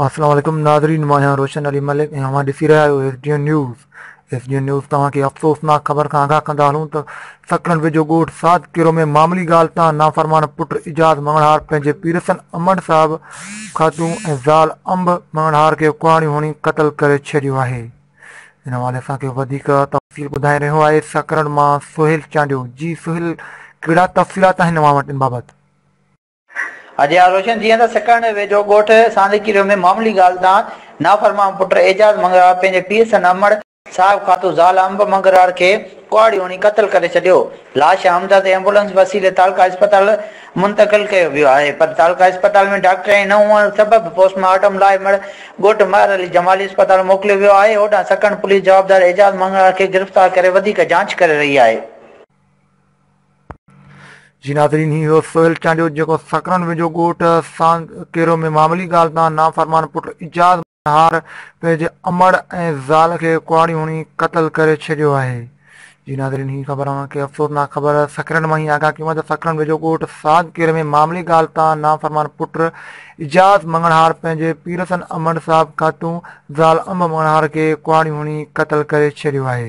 السلام عليڪم ناظرين مان آهيان روشن علي ملڪ ۽ اوهان ڏسي رهيا آهيو S D N news S D N news توهان کي افسوسناڪ خبر کان آگاهه ڪندا هلون ته سڪرنڊ ويجهو ڳوٺ سعد ڪيرو ۾ معاملي ڳالهه تان نافرمان پٽ اعجاز مڱڻهار پنهنجي پيرسن امڙ صاحب خاتون ۽ زال انب مڱڻهار کي ڪهاڙيون هڻي قتل ڪري ڇڏيو آهي ان حوالي سان ڪي وڌيڪ تفصيل ٻڌائي رهيو آهي سڪرنڊ مان سهيل چانڊيو جي سهيل ڪهڙا تفصيلات آهن اوهان وٽ ان بابت. اجي ها روشن جيئن ته سڪرنڊ ويجهو ڳوٺ ساندڪيريو ۾ معمولي ڳالهه تان نافرمان پٽ اعجاز منگرار پنهنجي پيء سنڌ امڙ صاحب خاطو زال انب منگرار کي ڪهاڙي هڻي قتل ڪري ڇڏيو لاش حمزه تي ايمبولنس وسيلي تعلقه اسپتال منتقل ڪيو ويو آهي پر تعلقه اسپتال ۾ ڊاڪٽريائي نه هئڻ سبب پوسٽ مارٽم لاء مڙهه ڳوٺ مهر علي جمالي اسپتال موڪليو ويو آهي هوڏانهن سڪڻ پوليس جوابدار اعجاز مڱڻهار کي گرفتار ڪري وڌيڪ جاچ ڪري رهي آهي. جي ناظرين هي هو سهيل چانڊيو جيڪو سڪرن ويجهو ڳوٺ سانڌ ڪيرو ۾ معاملي ڳالهه تان نافرمان پٽ اعجاز نهار پنهنجي امڙ ۽ زال کي ڪهاڙيون هڻي قتل ڪري ڇڏيو آهي. جي ناظرين هي خبر اوهان کي افسوسناڪ خبر سکرن مان هي آگاهه ڪيون آهي ته سکرن ويجهو ڳوٺ ساڌ ڪير ۾ معاملي ڳالهه تان نافرمان پٽ اعجاز مڱڻهار پنهنجي پيرسن امڙ صاحب کاتون زال انب مڱڻهار کي ڪهاڙيون هڻي قتل ڪري ڇڏيو آهي.